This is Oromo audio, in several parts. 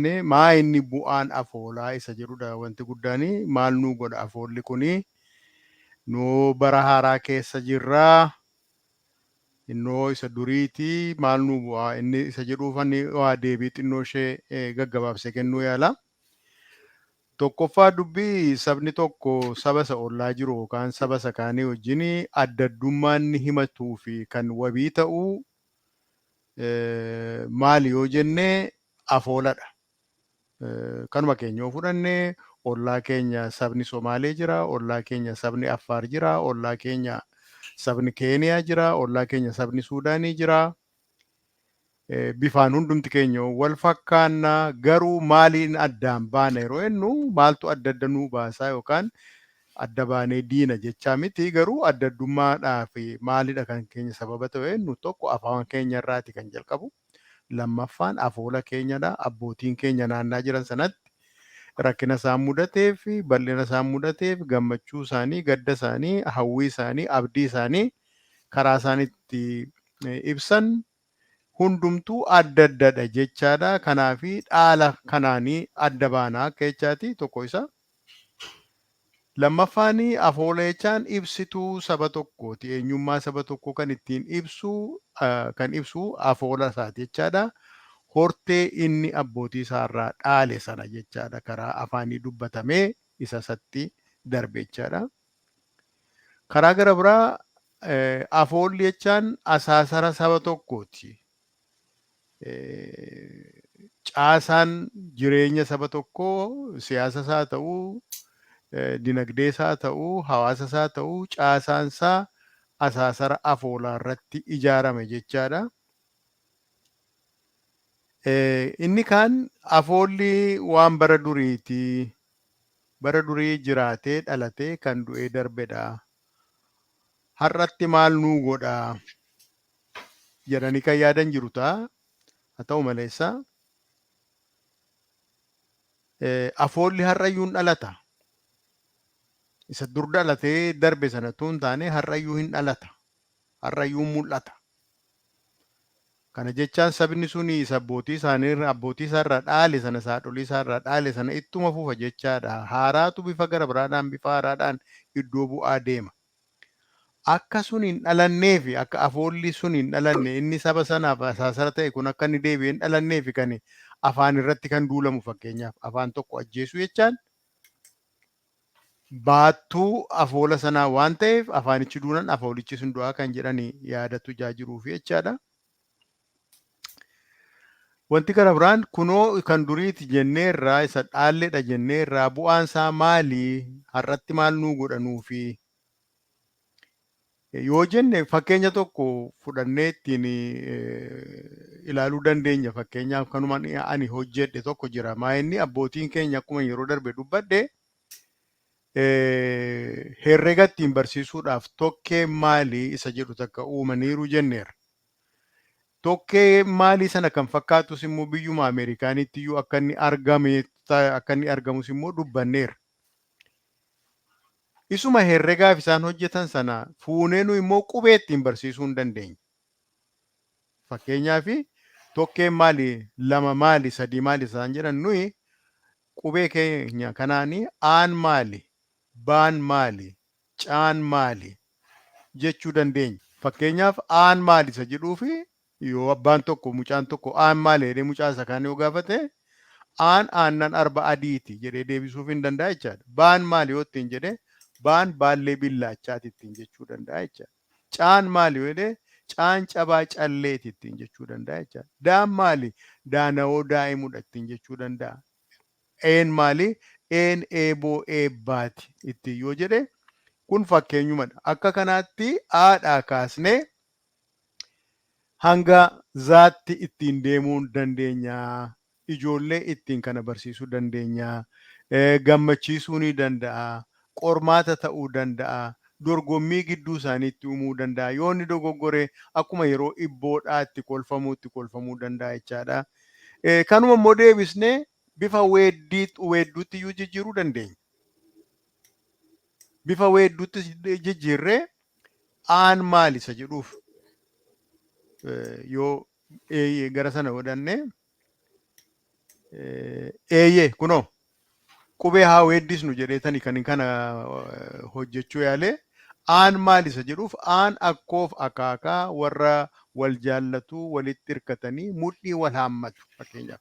arganne maa inni bu'aan afoolaa isa jedhudha wanti guddaan maal nuu godha afoolli kuni noo bara haaraa keessa jirra innoo isa duriiti maal nuu bu'aa inni isa jedhuufan waa deebii xinnoo ishee gaggabaabsee kennuu yaala tokkoffaa dubbii sabni tokko saba isa ollaa jiru yookaan saba isa kaanii wajjin adda addummaa inni himatuu fi kan wabii ta'u maali yoo jenne afooladha. Kanuma keenya yoo fudhanne ollaa keenya sabni Somaalee jira, ollaa keenya sabni Affaar jira, ollaa keenya sabni Keeniyaa jira, ollaa keenya sabni Suudaanii jira. Bifaan hundumti keenya wal fakkaanna garuu maaliin addaan baana yeroo jennu maaltu adda adda nuu baasaa yookaan Adda baanee diina jechaa miti garuu adda addummaadhaaf maalidha kan keenya sababa ta'u eennu tokko afaan keenya irraati kan jalqabu lammaffaan afoola keenyadha abbootiin keenya naannaa jiran sanatti rakkina isaan mudateef bal'ina isaan mudateef gammachuu isaanii gadda isaanii hawwii isaanii abdii isaanii karaa isaan itti ibsan hundumtuu adda addadha jechaadha kanaafi dhaala kanaani adda baana akka jechaati tokko isa lammaffaani afooleechaan ibsituu saba tokkooti eenyummaa saba tokkoo kan ittiin ibsuu kan ibsuu afoola isaati jechaadha hortee inni abbootii isaarraa dhaale sana jechaadha karaa afaanii dubbatamee isa isatti darbe jechaadha Karaa gara biraa eh, afoolli jechaan asaasara saba tokkooti. Eh, Caasaan jireenya saba tokkoo siyaasa isaa ta'u, eh, dinagdee isaa ta'u, hawaasa isaa ta'u, caasaan isaa asaasara afoolaa irratti ijaarame jechaadha. Eh, Inni kaan afoolli waan bara duriiti. bara durii jiraatee dhalatee kan du'ee darbedha har'atti maal nuu godha jedhanii kan yaadan jiru ta'a haa ta'u maleessa afoolli har'ayyuu hin dhalata isa dur dhalatee darbe sana tun taane har'ayyuu hin dhalata har'ayyuu mul'ata. Kana jechaan sabni suni isa abbootii isaanii irra abbootii isaa irraa dhaale sana isa haadholii isaa irraa dhaale sana ittuma fufa jechaadha. Haaraatu bifa gara biraadhaan bifa haaraadhaan iddoo bu'aa deema. Akka sun hin dhalanneefi akka afoolli sun hin dhalanne inni saba sanaaf asaasara ta'e kun akka inni deebi'ee hin dhalanneefi kan afaan irratti kan duulamu fakkeenyaaf afaan tokko ajjeesuu jechaan baattuu afoola sanaa waan ta'eef afaanichi duunan afoolichi sun du'aa kan jedhani yaadatu ijaa jiruufi jechaadha. Wanti kana biraan kunoo kan duriiti jennee irraa isa dhaalledha jennee irraa bu'aan isaa maali har'atti maal nuu godha nuufi Yoo jenne fakkeenya tokko fudhannee ittiin ilaaluu dandeenya. Fakkeenyaaf kanuma ani hojjedhe tokko jira. Maa inni abbootiin keenya akkuma yeroo darbe dubbadhe herrega ittiin barsiisuudhaaf tokkee maalii isa jedhu takka uumaniiru jenneera. Tokkee maalii sana kan fakkaatus immoo biyyuma Ameerikaaniitti iyyuu akka inni argamu akka inni argamus immoo dubbanneera. Isuma herregaaf isaan hojjetan sana fuunee nuyi immoo qubee ittiin barsiisuu hin dandeenye. Fakkeenyaaf tokkeen maali, lama maali, sadii maali isaan jedhan nuyi qubee keenya kanaan aan maali, baan maali, caan maali jechuu dandeenya. Fakkeenyaaf aan maali isa jedhuu fi Yoo abbaan tokko mucaan tokko aan maali jedhee mucaa isa kaan yoo gaafate aan aannan arba adiiti jedhee deebisuuf hin danda'a jechaadha. Baan maali yoo ittiin jedhe baan baallee billaachaati ittiin jechuu danda'a jechaadha. Caan maali yoo jedhe caan cabaa calleeti ittiin jechuu danda'a jechaadha. Daan maali daanawoo daa'imudha ittiin jechuu danda'a. Een maali een eeboo eebbaati ittiin yoo jedhe kun fakkeenyumadha. Akka kanaatti aadhaa kaasnee hanga zaatti ittiin deemuun dandeenya ijoollee ittiin kana barsiisuu dandeenya gammachiisuu ni danda'a qormaata ta'uu danda'a dorgommii gidduu isaaniitti uumuu danda'a yoo inni dogoggore akkuma yeroo ibboodhaa itti kolfamuu itti kolfamuu danda'a jechaadha kanuma immoo deebisne bifa weedduutti iyyuu jijjiiruu dandeenya bifa weedduutti jijjiirree aan maali isa jedhuuf yoo eeyyee gara sana godhannee eeyyee kunoo qubee haa weeddisnu jedheetani kan kana hojjechuu yaalee aan maali isa jedhuuf aan akkoof akaakaa warra wal jaallatuu walitti hirkatanii mudhii wal haammatu fakkeenyaaf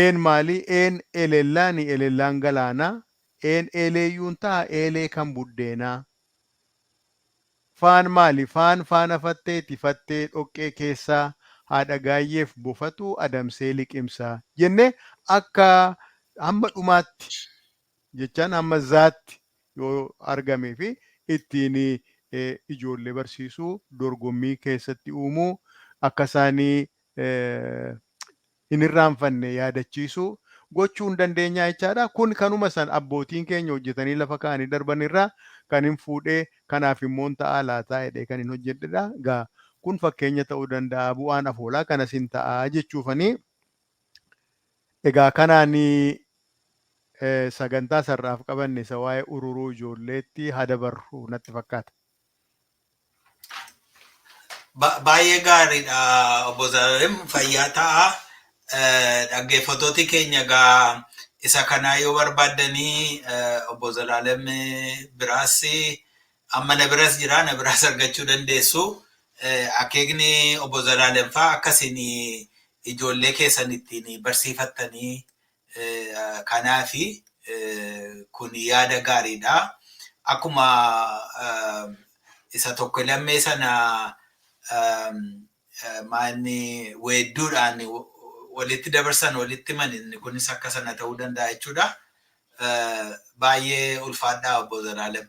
Een maali? Een eleellaani eleellaan galaanaa Een eeleeyyuun taha eelee kan buddeenaa Faan maali? Faan faana fatteeti fattee dhoqqee keessaa Haadha gaayyeef bofatu adamsee liqimsaa jennee akka hamma dhumaatti jechaan hamma zaatti yoo argameefi ittiin ijoollee barsiisuu dorgommii keessatti uumuu akka isaan hin irraanfanne yaadachiisuu gochuu hin dandeenyaa jechaadha. Kun kanuma san abbootiin keenya hojjetanii lafa kaa'anii darban irraa kanin fuudhee kanaaf immoo hin ta'aa laataa jedhee kanin hojjedhedha. Egaa kun fakkeenya ta'uu danda'a bu'aan afoolaa kanas hin ta'a jechuufani. Egaa kanaan sagantaa sar'aaf qabanne isa waa'ee ururuu ijoolleetti haa dabarru natti fakkaata. Ba- Baay'ee gaariidha obbo Zalaalam fayyaa ta'a. Eh, Dhaggeeffattooti keenya egaa isa kanaa yoo barbaaddanii eh, obbo Zalaalam biraas amma na biras jira na biraas argachuu dandeessu. Eh, Akeekni obbo Zalaalam fa'aa akkasiin ijoollee keessan ittiin barsiifattanii Kanaaf kun yaada gaariidha. Akkuma isa tokko lammee sana maanni weedduudhaan walitti dabarsan walitti himan inni kunis akka sana ta'uu danda'a jechuudha. Baay'ee ulfaadhaa obbo Zalaalem.